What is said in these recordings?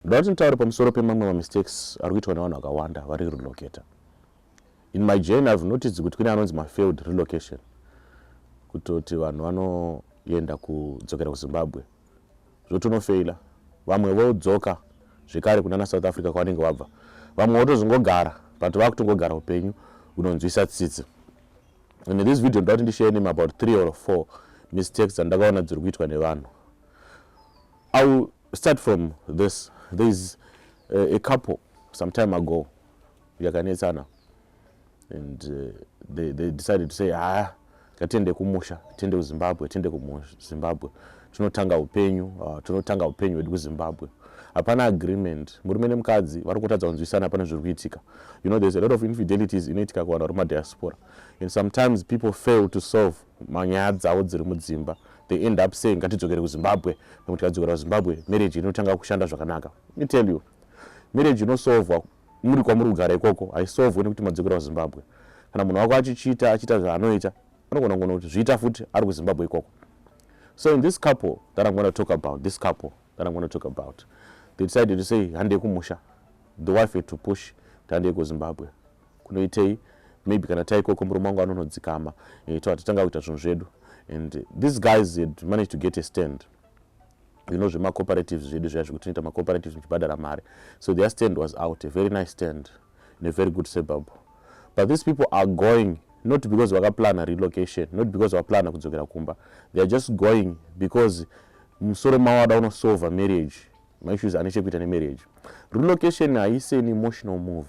Ndoda kuti nditaure pamusoro pemamwe mamistakes ari kuitwa nevanhu vakawanda vari relocator. In my journey I've noticed kuti kune anonzi mafailed relocation kutoti vanhu vanoenda kudzokera kuzimbabwe zvotonofeila vamwe vodzoka zvekare kunana south africa kwavanenge vabva vamwe votozongogara but vakutongogara upenyu unonzwisa tsitsi and in this video ndoda kuti ndishare name about three or four mistakes dzandakaona dziri kuitwa nevanhu au Start from this. There is a, a couple some time ago yakanetsana and uh, they, they decided to say haa ah, ngatiende kumusha tiende kuzimbabwe tiende kuzimbabwe tinotanga upenyu uh, tinotanga upenyu hwedu kuzimbabwe hapana agreement murume nemukadzi vari kutadza kunzwisana pane zviri kuitika you know there's a lot of infidelities inoitika kuvanhu vari mumadiaspora and sometimes people fail to solve manyaya dzavo dziri mudzimba they end up saying ngatidzokere kuzimbabwe nekuti tikadzokera kuzimbabwe marriage inotanga kushanda zvakanaka me tell you marriage inosovwa muri kwamuri kugara ikoko haisovwe nekuti madzokera kuzimbabwe kana munhu wako achichiita achiita zvaanoita anogona kugona kuti zviita futi ari kuzimbabwe ikoko so in this couple that i'm gonna talk about this couple that i'm gonna talk about they decided to say handei kumusha the wife had to push handei kuzimbabwe kunoitei maybe kana taikoko murume wangu anonodzikama eh, to hatitanga kuita zvinhu zvedu and these guys had managed to get a stand you know zvemacooperatives zvedu zviya zvekuti tinoita macooperatives muchibhadhara mari so their stand was out a very nice stand in a very good suburb but these people are going not because vakaplana relocation not because vaplana kudzokera kumba they are just going because musoro mavo ada unosolva marriage maissues ane chekuita nemarriage relocation haisi an emotional move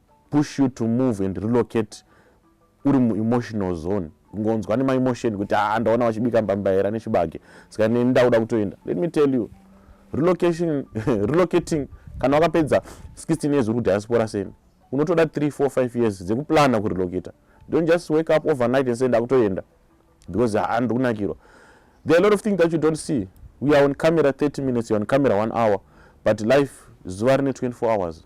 push you to move and relocate uri muemotional zone ngonzwa nemaemotion kuti haa ah, ndaona vachibika mbambaira nechibage saka neni ndakuda kutoenda let me tell you relocation relocating kana wakapedza 16 years uri kudiaspora seni unotoda 3 4 5 years dzekuplana kurelocata don't just wake up overnight and say ndakutoenda because haa ah, ndiri kunakirwa there are a lot of things that you don't see we are on camera 30 minutes you're on camera 1 hour but life zuva rine 24 hours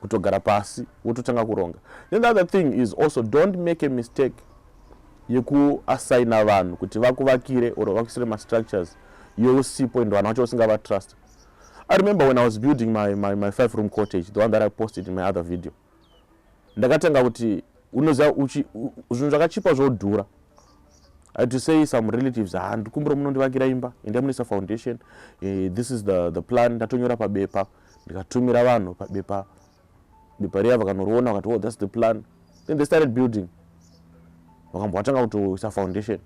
kutogara pasi wototanga kuronga then the other thing is also don't make a mistake yekuassigna vanhu kuti vakuvakire or vakuisire mastructures iwe usipo ende vanhu vacho usingavatrust i remember when i was building my, my, my five room cottage the one that i posted in my other video ndakatanga kuti unoziva zvinhu zvakachipa zvodhura i to say some relatives handikumbira ah, munondivakira imba endai munoisa foundation eh, this is the, the plan ndatonyora pabepa ndikatumira vanhu pabepa bepa riya vakanoriona vakati oh that's the plan then they started building vakambwa vatanga kutoisa foundation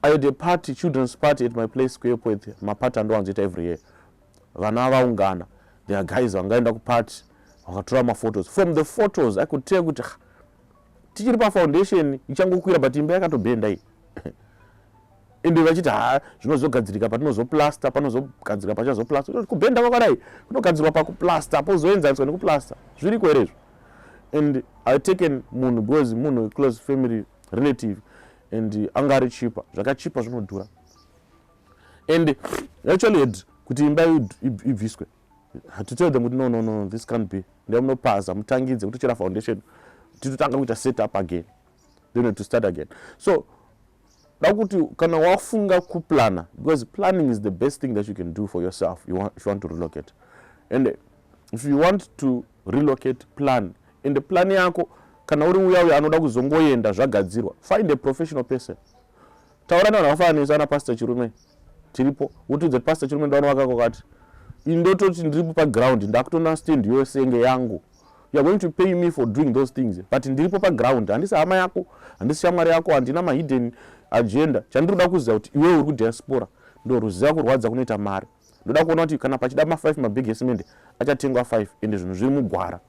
i had a party children's party at my place square poet maparty andowanzoita every year vana vaungana there are guys vangaenda kuparty vakatora maphotos from the photos i could tell kuti tichiri pafoundation ichangokwira but imba yakatobenda iyi ende vachiti ha zvinozogadzirika patinozoplaster panozogadzirika pachazoplaster kubhenda vakadai kunogadzirwa pakuplaster pozoenzaniswa nekuplaster zviriko here izvo and i taken munhu because munhu close family relative and anga ari chipa zvakachipa zvinodhura and actually had kuti imba ibviswe to tell them kuti no no no this can't be nda munopaza mutangidze kutochera foundation titotanga kuita set up again then to start again so dakuti kana wafunga kuplana because planning is the best thing that you can do for yourself you want, if you want to relocate and if you want to relocate plan and plan yako kana uri uya uya anoda kuzongoenda zvagadzirwa find a professional person taura nevanhu vakafananisa ana pastor chirume tiripo wotiudza kuti pastor chirume ndaona wakako kati indototi ndiripo paground ndakutona stand yose enge yangu youare going to pay me for doing those things but ndiripo paground handisi hama yako handisi shamwari yako handina mahidden agenda chandiri kuda kuziva kuti iwewe uri kudiaspora ndoruziva kurwadza kunoita mari ndoda kuona kuti kana pachida ma5 mabig esimende achatengwa 5 ende zvinhu zviri mugwara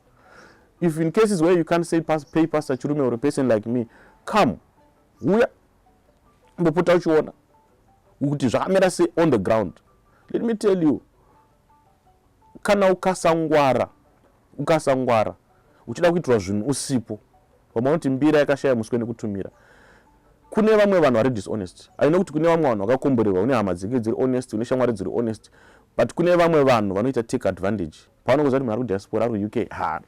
if in cases where you can't say pass, pay pastor chirume or a person like me come uya mbopota uchiona kuti zvakamira se on the ground let me tell you kana ukasangwara ukasangwara uchida kuitirwa zvinhu usipo vamwe vanoti mbira yakashaya muswe nekutumira kune vamwe vanhu vari dishonest aine kuti kune vamwe vanhu vakakomborerwa une hama dzinge dziri honest une shamwari dziri honest but kune vamwe vanhu vanoita take advantage paunongoziva kuti munhu ari kudiaspora ari kuuk ha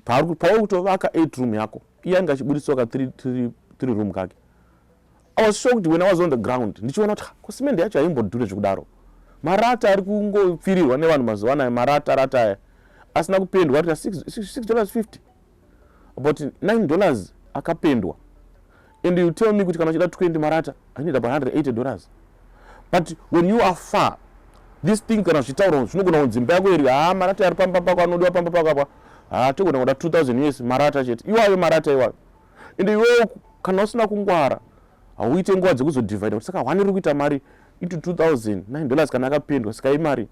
pauri kutovaka eight room yako iye ange achibudisiwa ka three room kake i was shocked when i was on the ground ndichiona kuti ko simende yacho haimbodhure zvekudaro marata ari kungopfirirwa nevanhu mazuva anayo marata rata aya asina kupendwa rita six dollars fifty about 9 dollars akapendwa and you tell me kuti kana uchida 20 marata i need about 180 dollars but when you are far this thing kana zvichitaura zvinogona kunzi imba yako iri haa marata ari pamba pako anodiwa pamba pako apa haa togona kuda 2000 us marata chete iwayo marata iwayo ende iwewo kana usina kungwara hauite nguva dzekuzodivhaida kuti saka one iri kuita mari into 2009 dollars kana akapendwa saka imari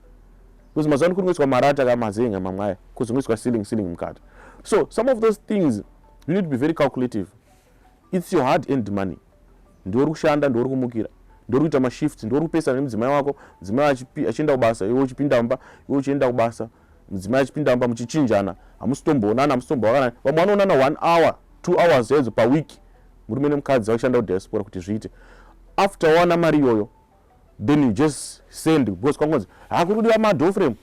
because mazuva ano kuri ngoiswa marata ka mazenga mamwe aya because ngoiswa ceiling ceiling mukati so some of those things you need to be very calculative its your hard end money ndiwo uri kushanda ndiwo uri kumukira ndiwo uri kuita mashift ndiwo uri kupesana nemudzimai wako mudzimai achienda kubasa iwe uchipinda mumba iwe uchienda kubasa mudzimai achipinda mumba muchichinjana hamusitomboonana hamusitomboonana vamwe vanoonana one hour two hours chaidzo paweek murume nemukadzi vachishanda kudiaspora kuti zviite after wawana mari iyoyo then you just send because kwangonzi hakuri kudiwa madoframe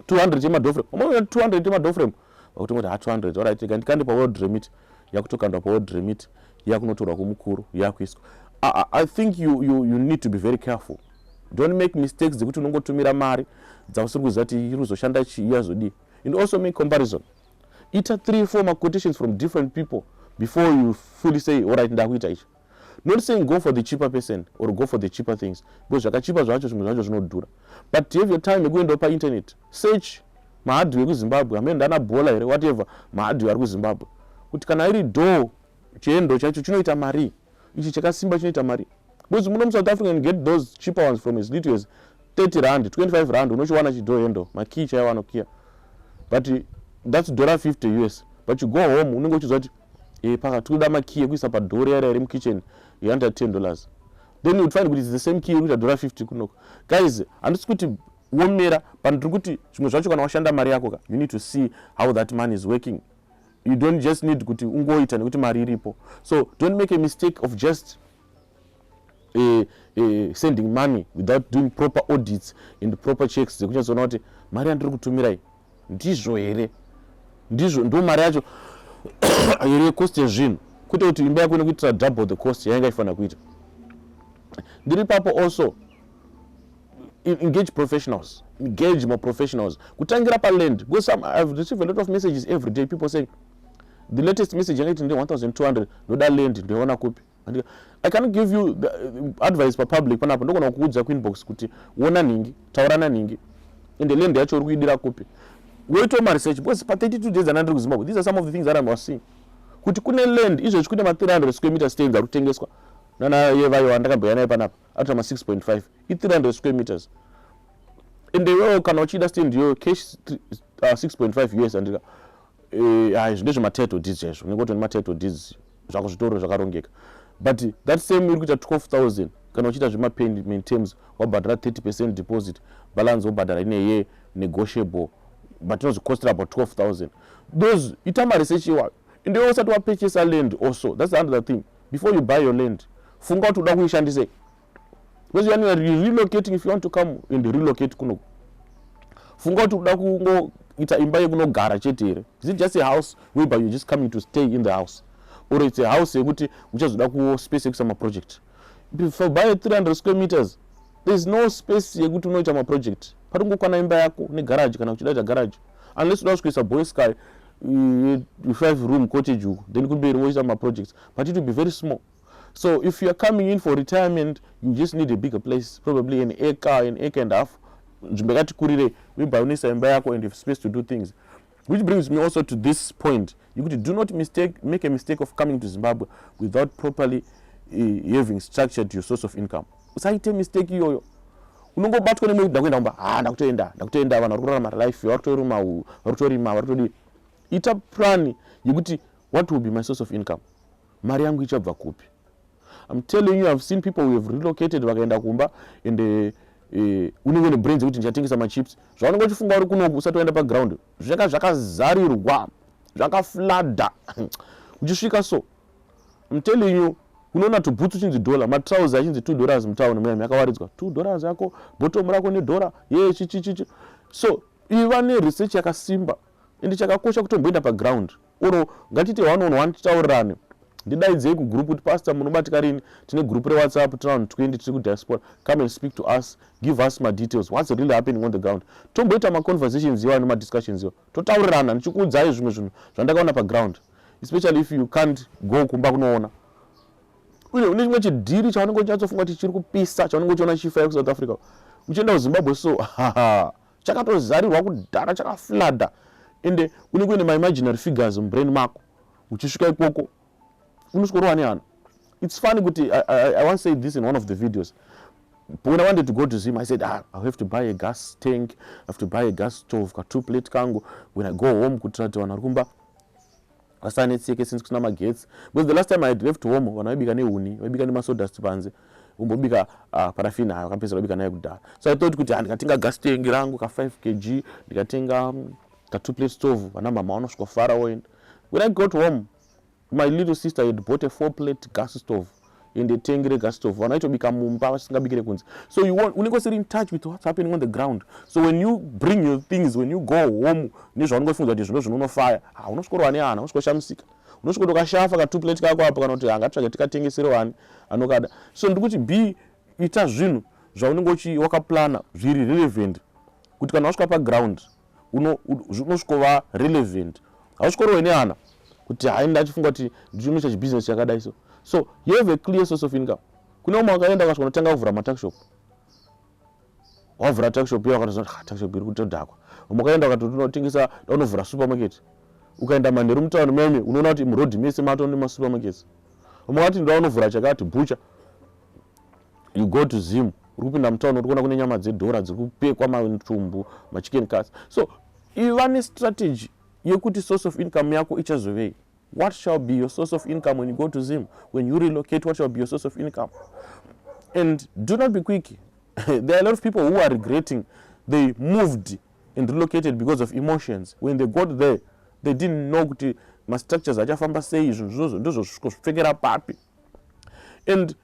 200 yemadoframe umaona 200 yemadoframe vakutongoti ha 200 orit rega ndikande paworld remit yakutokandwa paworld remit yakunotorwa kumukuru yakuiswa i think you, you, you need to be very careful don't make mistakes dzekuti unongotumira mari dzausiri kuziva kuti iri kuzoshanda chii yazodii and also make comparison ita three four maquotations from different people before you fully say orit ndakuita ichi not saying go for the cheaper person or go for the cheaper things because zvakachipa zvacho zvimwe zvacho zvinodhura but to have your time yekuendawo painternet search mahadhiwe ekuzimbabwe amene ndana bhola here whatever mahadhiwe ari kuzimbabwe kuti kana iri doo chiendo chacho chinoita mari ichi chakasimba chinoita mari because muno musouth africa and get those cheaper ones from as little as 30 rand 25 rand unochiwana chidoo hendo makii chaiwanokiya but that's dollar 50 us but you go home unenge uchiziva kuti e, paka tinoda makey ekuisa padhori yara iri mukitchen yanda 10 dollars then you'd find kuti it's the same key yekuita dhora 50 kunoko guys handisi kuti womera but ndiri kuti zvimwe zvacho kana washanda mari yako ka you need to see how that money is working you don't just need kuti ungoita nekuti mari iripo so don't make a mistake of just uh, uh, sending money without doing proper audits and proper checks dzekunyatsoona kuti mari yandiri kutumirai ndizvo here ndizvo ndo mari yacho here yecost yezvinhu kwete kuti imba yako inokuitira double the cost yainga ifanira kuita ndiri papo also engage professionals engage maprofessionals kutangira paland because some i've received a lot of messages every day people saying the latest message yanga iti ndi 1200 ndoda land ndoiona kupi i can give you the uh, advice papublic panapa ndogona kukuudza kuinbox kuti wona nhingi taurana nhingi ende land yacho uri kuidira kupi woitawo maresearch because pa 32 days ana ndiri kuzimbabwe these are some of the things that iwas seeing kuti kune land izvezvi kune ma300 square meter stands ari kutengeswa nanaye vayo andakambouya naye panapa atora ma6.5 i300 square meters ende iwewo kana uchida stand iyoyo cash 6.5 uh, us andika Eh, ah, izvi ndezvematitle deeds chaizvo unenge utone matitle deeds zvako zvitoro zvakarongeka but that same iri kuita 12000 kana uchiita zvemapayment terms wabhadhara 30 percent deposit balance wobhadhara ineye negotiable but inozvicostera about 12000 those ita maresearch iwayo ende iwe usati wapurchasa land also thats another thing before you buy your land funga kuti uda kuishandisei because yani youare relocating if you want to come and relocate kuno funga kuti uda kungoita imba yekunogara chete here is it just a house whereby you're just coming to stay in the house or it's a house yekuti uchazoda ku space yekuisa maproject for by 300 square meters thereis no space yekuti unoita maproject pati ungokwana imba yako negaraji kana kuchidaita garaji unless uda kusvikoisa boy sky five room cottage uko then kumberi woita maprojects but it will be very small So if you're coming in for retirement, you just need a bigger place, probably an acre, an acre and a half. Nzvimbo yakati kurire, uibayonisa imba yako and you have space to do things. Which brings me also to this point. You could do not mistake, make a mistake of coming to Zimbabwe without properly uh, having structured your source of income. Usaite mistake iyoyo. Unongobatwa nemwe ndakuenda kumba, ah ndakutoenda, ndakutoenda vanhu vari kurarama life, vari kutorima, vari kutorima, vari kutodii. Ita plan yekuti what will be my source of income? mari yangu ichabva kupi I'm telling you I've seen people who have relocated vakaenda kumba and uh, uh, unenge une brains yekuti ndichatengesa machips zvaunenge uchifunga uri kunoku usati waenda paground zvaka zvakazarirwa zvakaflada uchisvika so I'm telling you unoona tubhutsu chinzi dollar matrouse achinzi two dollars mutown muyami yakawaridzwa two dollars yako bottom rako nedhora ye chichichichi so iva neresearch yakasimba ende chakakosha kutomboenda paground or ngatite one on one titaurirane ndidaidzei kugroup kuti pastor munobatika rini tine group rewhatsapp tiri vanhu 20 tiri kudiaspora come and speak to us give us madetails whats really happening on the ground tomboita maconversations iwa nemadiscussions iwa totaurirana ndichikuudzai zvimwe zvinhu zvandakaona paground especially if you can't go kumba kunoona une une chimwe chidhiri chaunenge uchinyatsofunga kuti chiri kupisa chaunenge uchiona chifa yekusouth africa uchienda kuzimbabwe so chakatozarirwa kudhara chakaflada ende unenge uine maimaginary figures mubrain mako uchisvika ikoko unosworowa neana its funny kuti I, I, i once said this in one of the videos when i wanted to go to zim i said ah, i have to buy a gas tank i have to buy a gas stove ka two plate kangu when i go home kuitira kuti vanhu vari kumba vasanetseke since kusina magetsi because the last time i had left home vanhu vaibika nehuni vaibika nemasodust panze umbobika uh, parafin hayo kapedzera ubika naye kudhara so i thought kuti handikatenga gas tank rangu ka 5 kg ndikatenga um, ka two plate stove vana mama vanosvika fara woenda when i got home my little sister had bought a four plate gas stove ende tengi regastove vana itobika mumba vasingabikire kunze so unenge usiri in touch with what's happening on the ground so when you bring your things when you go home nezvaunenge uchifunza kuti zvino zvino unofaya ha unosvikorwa ne hana unosvikoshamisika unosviko tokashafa ka two plate kako apo kana kuti angatsvage tikatengesere wani anokada so ndiri kuti be ita zvinhu zvaunenge uchi wakaplana zviri relevant kuti kana wasvika paground unosvikova relevant hausvikorowe neana kuti hai ndachifunga kuti ndichinoita chibusiness chakadai so so you have a clear source of income kune umwe wakaenda ukasvika unotanga kuvhura matakshop wavhura takshop iyo wakatoziva kuti ah, takshop iri kutodhakwa umwe wakaenda ukati unotengesa daunovhura supermarket ukaenda manheru mutauni meme unoona kuti muroad mese matone masupermarkets umwe wati ndaunovhura chakati bhucha you go to zim uri kupinda mutown uri kuona kune nyama dzedhora dziri kupekwa matumbu machicken cas so iva nestrategy yekuti source of income yako ichazovei what shall be your source of income when you go to zim when you relocate what shall be your source of income and do not be quick there are a lot of people who are regretting they moved and relocated because of emotions when they got there they didn't know kuti mastructures achafamba sei izvo zvozo ndozvosviko zvipfekera papi and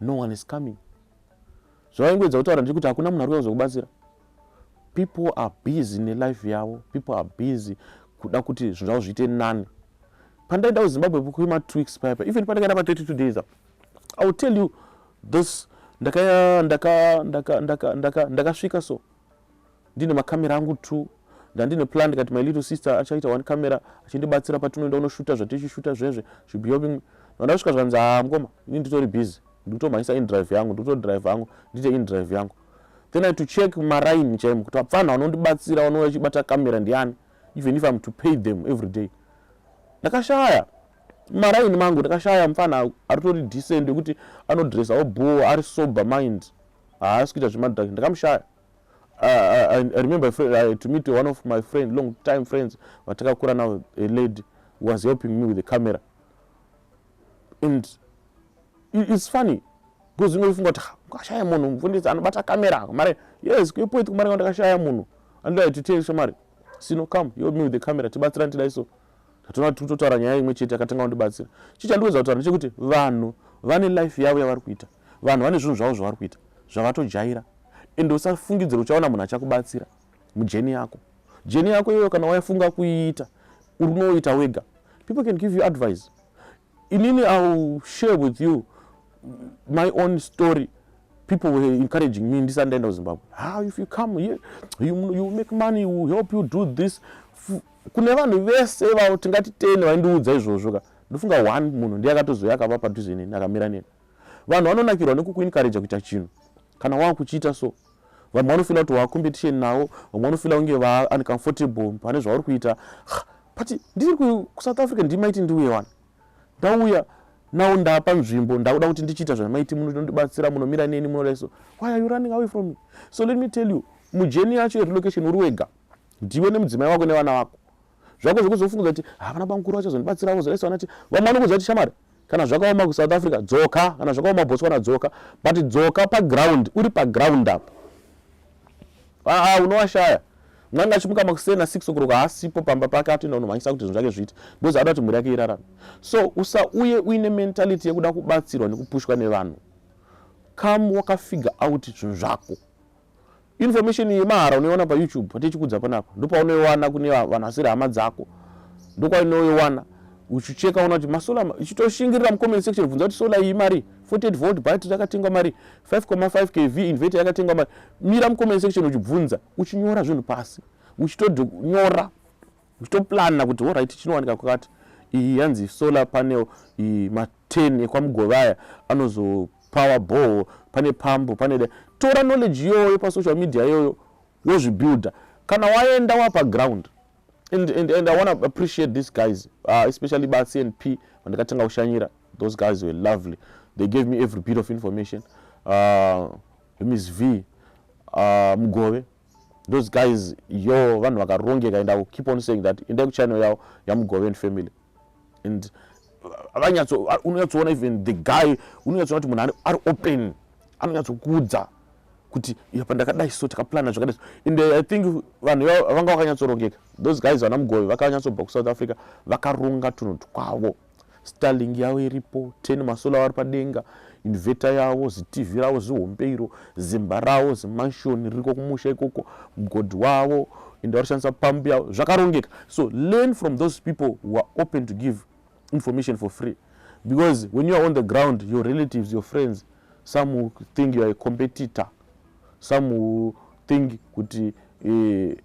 no one is coming zvavaingoedza kutaura ndiri kuti hakuna munhu ari kuda kuzokubatsira people are busy nelife yavo people are busy kuda kuti zvinhu zvavo zviite nani pandaenda kuzimbabwe kuima twiks paipa even pandakaenda pa 32 days apo i will tell you this ndakasvika so Ndine makamera angu two ndandine plan ndikati my little sister achaita one camera achindibatsira patinoenda unoshuta zvatichishuta zvezve should be helping me vandasvika zvanzi haa mukoma ini nditori busy ndikutomhanyisa indrive yangu ndikutodrive yangu ndiite indrive yangu then i to check maraini chaimo kuti vapfanha vanondibatsira vanouya chibata kamera ndiani even if im to pay them every day ndakashaya maraini mangu ndakashaya mupfanha aritori decent yekuti anodressawo boo ari sober mind haasi kuita zvemadrak ndakamushaya I, I, I remember a friend, I, to meet one of my friend, long time friends vatakakura now a lady was helping me with the camera and it's funny because inoifunga kuti kashaya munhu mufundisi anobata camera mari yes kuipoiti kumari ka ndakashaya munhu andoda titei shamari sino come help me with the camera tibatsira ndidai so tatoona titotaura nyaya imwe chete akatanga kundibatsira chii chandiwedza kutaura ndechekuti vanhu vane life yavo yavari kuita vanhu vane zvinhu zvavo zvavari kuita zvavatojaira ende usafungidzira uchaona munhu achakubatsira mujeni yako jeni yako iyoyo kana waifunga kuiita uri unoita wega people can give you advice inini iwill share with you my own story people were encouraging me ndisati ndaenda kuzimbabwe how if you come here you, you make money you help you do this kune vanhu vese vavo tingati tene vaindiudza izvozvo ka ndofunga one munhu ndiye akatozouya akava padhuze neni akamira neni vanhu vanonakirwa nekukuinkareja kuita chinhu kana wava kuchiita so vamwe vanofila kuti wava competition navo vamwe vanofila kunge va uncomfortable pane zvauri kuita but ndiri kusouth africa ndimaiti ndiuye wani ndauya nawo ndapa nzvimbo ndakuda kuti ndichiita zvamaiti munondibatsira munomira neni munodaiso why are you running away from me so let me tell you mujeni yacho yerelocation uri wega ndiwe nemudzimai wako nevana vako zvako zvekuzofungudza kuti havana bamukuru vachazondibatsira vozoraisa vana ti vamwe vanokuudza kuti shamari kana zvakaoma kusouth africa dzoka kana zvakaoma botswana dzoka but dzoka paground uri paground apo aa ah, unowashaya mwana achimuka makuseni nasix okuroka haasipo pamba pake atoenda kunomhanyisa kuti zvinhu zvake zviite because ada kuti mhuri yake irarame so usauye uine mentality yekuda kubatsirwa nekupushwa nevanhu come wakafigure out zvinhu zvako information yemahara unoiwana payoutube patichikudza panapa ndopaunoiwana kune vanhu vasiri hama dzako ndokwainoiwana uchicheka ona kuti masola ichitoshingirira mucomment section bvunza kuti sola iyi mari 48 volt battery yakatengwa mari 5,5 kv inverter yakatengwa mari mira mucomment section uchibvunza uchinyora zvinhu pasi uchitonyora uchitoplanna kuti horit chinowanika kwakati iyi yanzi solar panel iyi maten ekwamugovaya anozopower boho pane pambo pane da tora knowledge iyoyo pasocial media iyoyo wozvibuilder kana waenda wapa ground and, and, and i wanna appreciate these guys uh, especially bacnp vandikatanga kushanyira those guys were lovely they gave me every bit of information uh, miss v uh, mugove those guys yo vanhu vakarongeka and iwill keep on saying that endai kuchannel yavo yamugove and family and vanyatso unonyatsoona even the guy unonyatsoona kuti munhu ari open anonyatsokuudza kuti yapa ndakadai so takaplana zvakadai and i think vanhu vanga vakanyatsorongeka those guys vana mugove vakanyatsobva kuSouth Africa vakaronga tunhu twavo starling yavo iripo ten masola vari padenga inveta yavo zitv ravo zihombe iro zimba ravo zimanshoni ririko kumusha ikoko mgodhi wavo ende vari kushandisa pambu yavo zvakarongeka so learn from those people who are open to give information for free because when you are on the ground your relatives your friends some will think you are a competitor some will think kuti eh,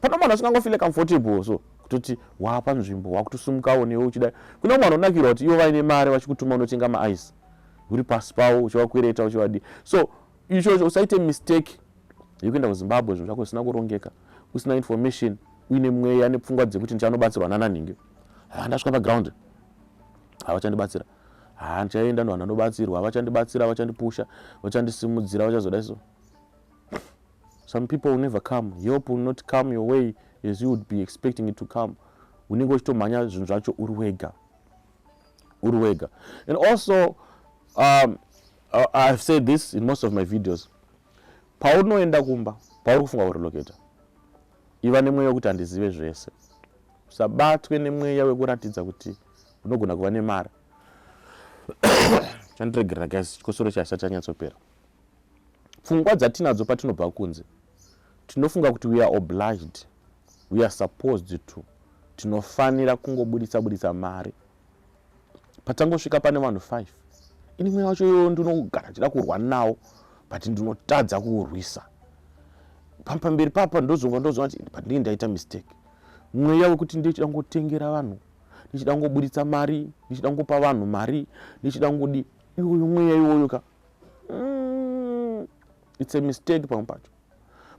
pana mwana asingangofile comfortable so kutoti wapa nzvimbo wakutosumukawo newe uchida kuna mwana unakirwa kuti ivo vaine mari vachikutuma unotenga maice uri pasi pavo uchivakwereta uchivadii so ichocho usaite mistake yekuenda kuzimbabwe zvinhu zvako zvisina kurongeka usina information uine mweya nepfungwa dzekuti ndichanobatsirwa nananhingi haa ndasvika paground havachandibatsira haa ndichaenda novanhu vanobatsirwa havachandibatsira vachandipusha vachandisimudzira vachazoda iso some people will never come help will not come your way as you would be expecting it to come unenge uchitomhanya zvinhu zvacho uri wega uri wega and also um, uh, ihave said this in most of my videos paunoenda kumba pauri kufunga kureloketa iva nemweya wekuti handizive zvese usabatwe nemweya wekuratidza kuti unogona kuva nemari chandiregerera guys chikosoro chasati chanyatsopera pfungwa dzatinadzo patinobva kunze tinofunga kuti we are obliged we are supposed to tinofanira kungoburitsa buritsa mari patangosvika pane vanhu five ini mweya wacho iyoyo ndinogara chida kurwa nawo but ndinotadza kuurwisa pamberi papa ndozonga ndozonga kuti pandinge ndaita mistake mweya wekuti ndichida kungotengera vanhu ndichida kungoburitsa mari ndichida kungopa vanhu mari ndichida kungodi iwoyo mweya iwoyo ka mm, it's a mistake pamwe pacho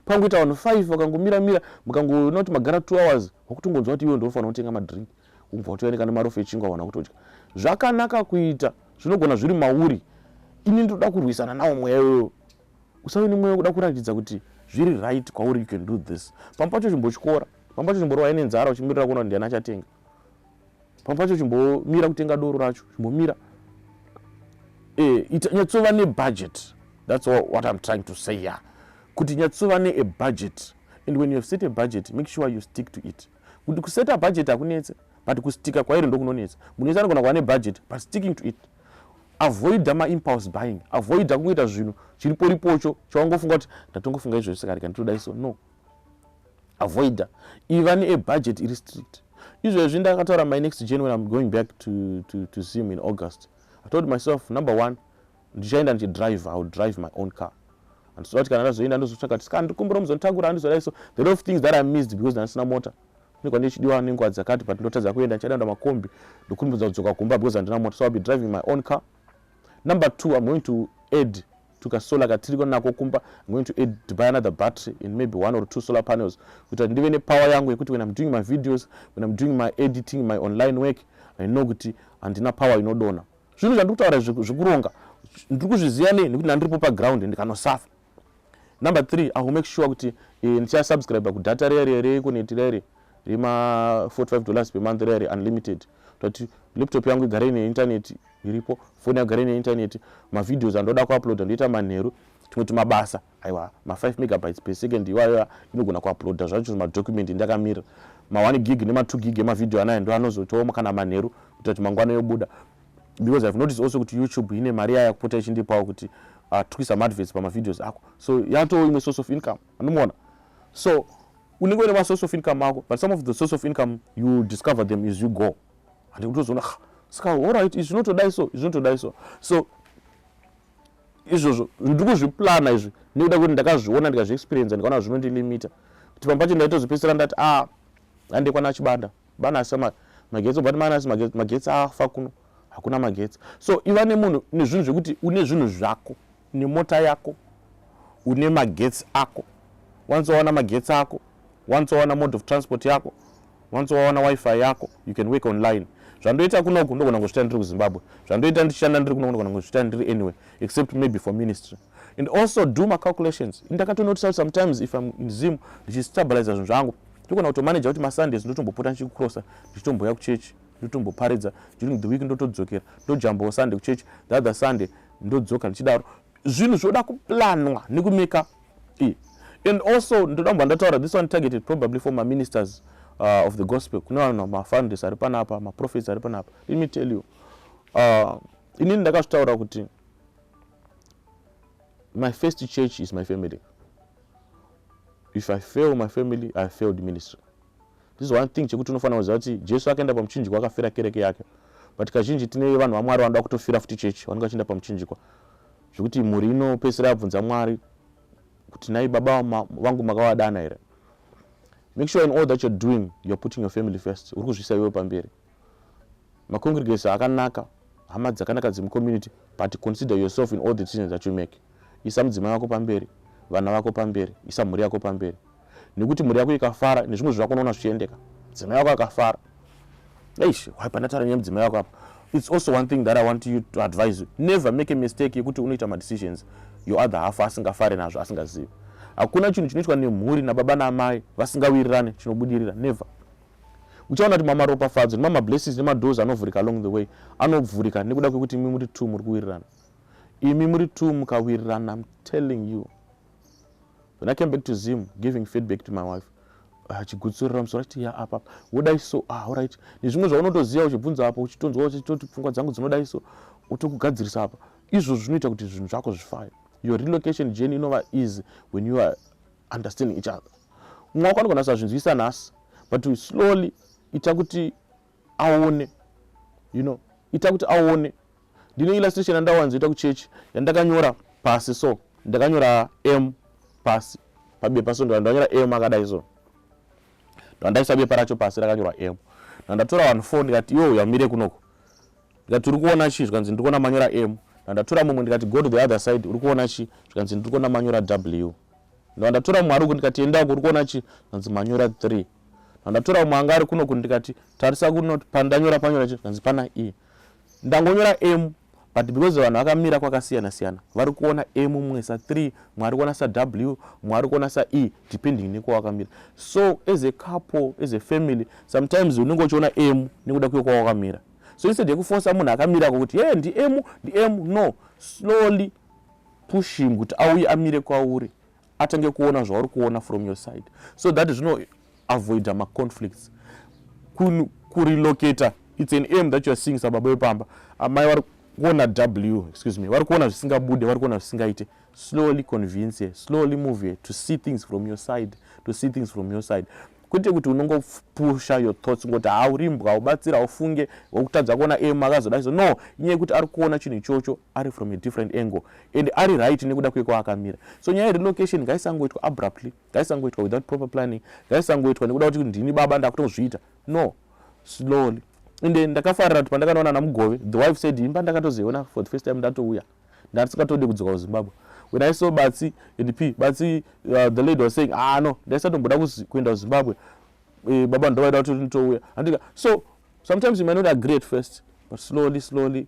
pangoita vanhu five vakangomira mira mukangoona kuti magara two hours wakutongonzwa kuti iwe ndofanira kutenga madrink umbva kutoyanika nemari ofe echingwa wana kutodya zvakanaka kuita zvinogona zviri mauri ini ndoda kurwisana nawo mweya iwoyo usave nemweya wekuda kuratidza kuti zviri right kwauri you can do this pamwe pacho chimbochikora pamwe pacho chimborova ine nzara uchimirira kuona kuti ndiani achatenga pamwe pacho chimbomira kutenga doro racho chimbomira eh, nyatsova nebudget thats what im trying to say ya kuti nyatsova ne a budget and when you have set a budget make sure you stick to it kuti kuseta budget hakunetse but kustika kwairi ndokunonetsa munhu wese anogona kuva nebudget but sticking to it avoida maimpulse buying avoida kungoita zvinhu chiriporipocho chawangofunga kuti ndatongofunga izvo zvisikadika nditoda iso no avoida iva neebudget iri strict izvezvi ndakataura my next gen when im going back to, to, to zim in august i told myself number one ndichaenda ndichidrive iwill drive my own car andisoda kuti kana ndazoenda ndozotsvaka kuti ska ndikumbira muzonditakura handizodai so the lot of things that i missed because ndandisina mota kune kwandiri chidiwa nenguva dzakati but ndotadza kuenda ndichaida nda makombi ndokumbudza kudzoka kumba because handina mota so ill be driving my own car number two im going to add tuka solar katiriko nako kumba i'm going to add to buy another battery in maybe one or two solar panels kuita ndive ne power yangu yekuti when i'm doing my videos when i'm doing my editing my online work i know kuti handina power inodona zvinhu zvandiri kutaura zvekuronga ndiri kuzviziva nei nekuti ndandiripo paground ndikanosafa number three i will make sure kuti eh, ndichasubscribe kudata riya riya rekuneti riya riya rema 45 dollars per month riya riya unlimited toti laptop yangu igare ine internet iripo foni yagara ine intaneti mavideos andoda kuuploada ndoita manheru tumwe tumabasa aiwa ma5 megabytes per second iwayo inogona kuuploada zvacho zvimadocument ndakamirira ma1 gig nema2 gig emavideo anayo ndo anozotooma kana manheru kuita kuti mangwana yobuda because ihave notice also kuti youtube ine mari yaya kupota ichindipawo kuti uh, twisa maadvets pamavideos ako so yatowo imwe source of income anomuona so unenge une masource of income ako but some of the source of income you discover them is you go handi kutozoona ska allright izvi zvinotodai so izvi zvinotodai so so izvozvo ndiri kuzviplana izvi nekuda kuti ndakazviona ndikazviexperienza ndikaona zvinondilimita kuti pamba pacho ndaitozopedzisira ndati a ah, ande kwana chibanda banasi magetsi obati manasi magetsi afa kuno hakuna magetsi so iva nemunhu nezvinhu zvekuti une zvinhu zvako une mota yako une magetsi ako once wawana magetsi ako once wawana mode of transport yako once wawana wifi yako you can work online zvandoita kunoku ndogona kuzviita ndiri kuzimbabwe zvandoita ndichishanda ndiri kunoku ndogona kuzviita ndiri anyway except maybe for ministry and also do macalculations ndakatonotisa kuti sometimes if im in zim ndichistabiliza zvinhu zvangu ndogona kutomanaja kuti masundays ndotombopota ndichikucrossa ndichitomboya kuchechi ndotomboparidza during the week ndotodzokera ndojambawo sunday kuchechi the other sunday ndodzoka ndichidaro zvinhu zvoda kuplanwa nekumeka e and also ndoda kubva ndataura this one targeted probably for maministers uh, of the gospel kune vanhu mafounders ari panapa maprofets ari panapa let me tell you uh, inini ndakazvitaura kuti my first church is my family if i fail my family i failed ministry This is one thing chekuti unofanira kuziva kuti Jesu akaenda pamuchinjikwa akafira kereke yake. But kazhinji tine vanhu vaMwari vanoda kutofira futi chechi vanenge vachienda pamuchinjikwa. Zvekuti mhuri inopedzisira yabvunza Mwari kuti nai baba vangu makavadana here? Make sure in all that you're doing, you're putting your family first. Uri kuzvisa iwe pamberi. Macongregation akanaka, hama dzakanaka dzemucommunity but consider yourself in all the decisions that you make. Isa mudzimai wako pamberi, vana vako pamberi, isa mhuri yako pamberi. Nekuti mhuri yako ikafara nezvimwe zvako unoona zvichiendeka. Mudzimai wako akafara. Eish, why pandataura nyaya mudzimai wako apa? It's also one thing that I want you to advise you. Never make a mistake yekuti unoita ma decisions your other half asingafare nazvo asingazivi. Hakuna chinhu chinoitwa nemhuri nababa naamai vasingawirirane chinobudirira. Never. uchaona kuti mama ropafadzo nemama blessings nemadoors anovhurika along the way anovhurika nekuda kwekuti imi muri two muri kuwirirana imi muri two mukawirirana im telling you when i came back to zim giving feedback to my wife achigutsurira ah, musoro achiti ya apa wodai so ah alright nezvimwe zvaunotoziva uchibvunza apa uchitonzwa uchitoti pfungwa dzangu dzinodai so utokugadzirisa apa izvozvo zvinoita kuti zvinhu zvako zvifaye your relocation journey inova easy when you are understanding each other mumwe wako anogona kusazvinzwisa nhasi but we slowly ita kuti aone you know ita kuti aone ndine illustration yandawanzoita kuchechi yandakanyora pasi so ndakanyora m pasi pabepa so ndandanyora m akadai so ndandaisa bepa racho pasi rakanyorwa m ndandatora vanhu four ndikati yo yamire kunoko ndikati uri kuona chii zvikanzi ndiri kuona manyora m ndandatora mumwe ndikati go to the other side uri kuona chii zvikanzi ndiri kuona manyora w Ndava ndatora mumwe ari uku ndikati enda uku uri kuona chi ndanzi manyora 3 ndandatora mumwe anga ari kuno ku ndikati tarisa kuno pandanyora panyora chi ndanzi pana e ndangonyora m but because vanhu vakamira kwakasiyana siyana vari kuona m mumwe sa 3 mumwe ari kuona sa w mumwe ari kuona sa e depending nekwawakamira so as a couple as a family sometimes unenge uchiona m nekuda kuyo kwawakamira so instead yekufosa munhu akamirako kuti ye ndi m ndi m no slowly push him kuti auye amire kwauri atange kuona zvauri kuona from your side so that zvino avoida maconflicts kurelocata its an aim that youare seeing sababa wepamba amai vari kuona w excuse me vari kuona zvisingabude vari kuona zvisingaite slowly convince her slowly move her to see things from your side to see things from your side kwete kuti unongopusha your thoughts ngoti haurimbwa ubatsira ufunge wakutadza kuona aim akazodaiso no inyaya yekuti ari kuona chinhu ichocho ari from a different angle and ari right nekuda kwekwaakamira so nyaya yerelocation ngaisangoitwa abruptly ngaisangoitwa without proper planning ngaisangoitwa nekuda kuti ndini baba ndakutozviita no slowly and ndakafarira kuti pandakanoona ana mugove the wife said imba ndakatozoiona for the first time ndatouya ndatisingatondi kudzoka kuzimbabwe when i saw batsi and p batsi uh, the lady was saying ah no ndaisatomboda kuenda kuzimbabwe eh, baba ndovaida kuti nditouya andika so sometimes you may not agree at first but slowly slowly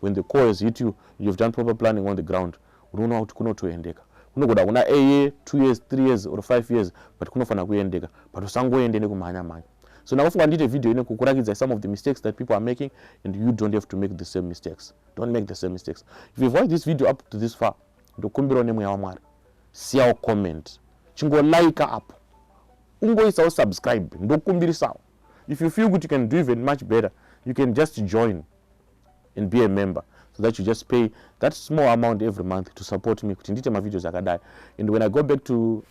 When the call has hit you, you have done proper planning on the ground, unoona kuti kunotoendeka. Kunogona kuna a year, two years, three years or five years, but kunofanira kuendeka, but usangoende nekumhanya mhanya. So ndakufunga ndiite video ine kukurakidza some of the mistakes that people are making and you don't have to make the same mistakes. Don't make the same mistakes. If you've watched this video up to this far, ndokumbirawo nemweya waMwari, siyawo comment, chingolaika apo, ungoisawo subscribe, ndokumbirisawo. If you feel kuti you can do even much better, you can just join and be a member so that you just pay that small amount every month to support me kuti ndiite mavideos akadai and when i go back to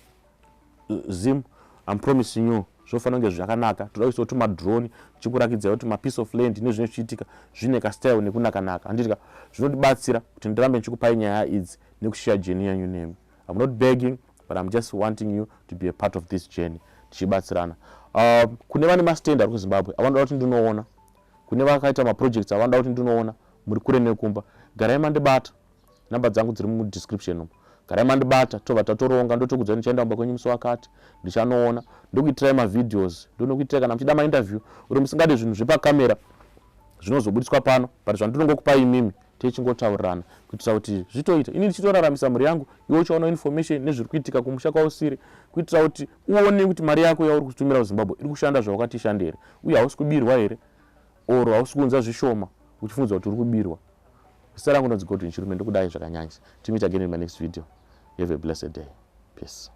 uh, zim im promising you zvofanira kunge zvakanaka toda kuisawo tumadrone tichikurakidzawo kuti mapiece of land nezvine zvichiitika zvine kastyle nekunakanaka handitika zvinotibatsira kuti ndirambe ndichikupai nyaya idzi nekushiya jeni yanyu nemi im not begging but im just wanting you to be a part of this journey tichibatsirana um, kune vane mastend ari kuzimbabwe avanoda kuti ndinoona Kune vakaita maprojects avanoda kuti ndinoona muri kure nekumba. Garai mandibata. Number dzangu dziri mudescription umu. Garai mandibata tobva tatoronga ndotokudzai ndichaenda kumba kwenyu musi wakati. Ndichanoona. Ndokuitirai mavideos. Ndonokuitirai kana muchida mainterview or musingade zvinhu zvepacamera zvinozobudiswa pano but zvandinongokupai imimi techingotaurirana kuitira kuti zvitoita ini ndichitoraramisa mhuri yangu iwe uchaona information nezviri kuitika kumusha kwausiri kuitira kuti uone kuti mari yako yauri kutumira kuzimbabwe iri kushanda zvawakati ishande here uye hausi kubirwa here or hausi kuunza zvishoma uchifunza kuti uri kubirwa zita rangu ndonzi godwin chirume ndokudai zvakanyanyisa timiita again in my next video have a blessed day peace